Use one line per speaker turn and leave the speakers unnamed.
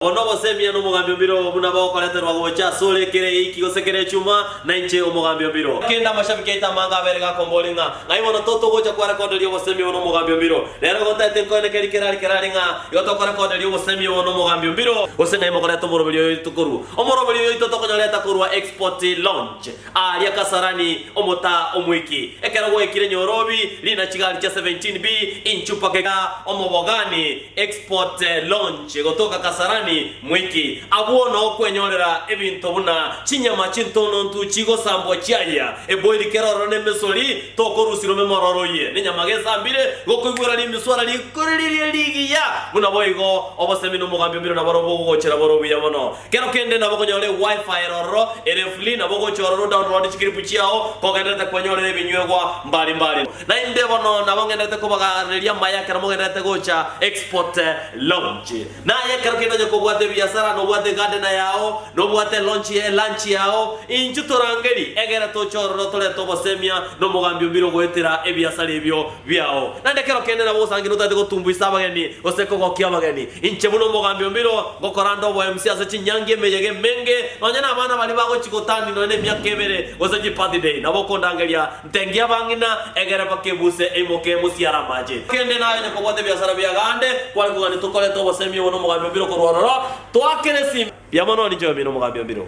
Bono gosemiya nomogambi o mbiro, buna bagokoreterwa gocha asore kera eiki gose kera echuma, nainche omogambi o mbiro. Kende amashabiki aito amange abeire gakombori ng'a, Ng'ai bono to togocha kwarekoderia obosemi obo nomogambi o mbiro? Rero igo ntaete nkoene keri kera ari kera ari ng'a, igo tokorekoderia obosemi obo nomogambi o mbiro. Gose ng'ai mokoreta omoroberi oyo tokorua? Omoroberi oyo oito tokonyora etakorua export launch. Aaria Kasarani, omotaa omoiki. Ekero gwaikire nyorobi, riina chigari chia 17B inchu mpaka eka Omobogani Export Launch gotoka Kasarani moiki. Abwo noo kwenyorera ebinto buna chinyama chintonontu chigosambwa chiayia eboiri kera ororo nemesori tokorusirwa memororo oye nenyama gesambire gokoigwera rimiswara rikoriririe rigiya buna boigo obosemi nomogambi omino naboro bogogochera bore obuya mono. Kero kende nabo okonyora e Wi-Fi ere ororo ere free nabo ogocha ororo odownloade chikiripu chiao kogenderete kwanyorera ebinyuegwa mbari mbari. Naende bono nabo ngenderete kobagareria amaya ekero mogenderete gocha Export Lounge. Naye ekero kende onye kobwate ebiasara nobwate egadena yao, nobwate elonchi e lunch yao, inchu torangeri egere toche ororo torete obosemia nomogambi o mbire ogoetera ebiasara ebio biao, naende ekero kende nabo osangire otaete gotumbuisa abageni gose kogokia abageni. Inche buna omogambi o Milo ngokoranda oboemisi ase chinyangi emeyega emenge, nonya na abana baria bagochi gotani nonya na emiaka ebere gose chibirthday, nabo okondangeria, Ntengia abang'ina, egere mpaka ebuse eimoke emosiare amache. Kende naye onye kobwate ebiasara bia gande, kware kogania tokorete obosemi obo na omogambi o Milo korwa ororo, twaakere esimi. Mbuya mono, ninche oyominto omogambi o Milo.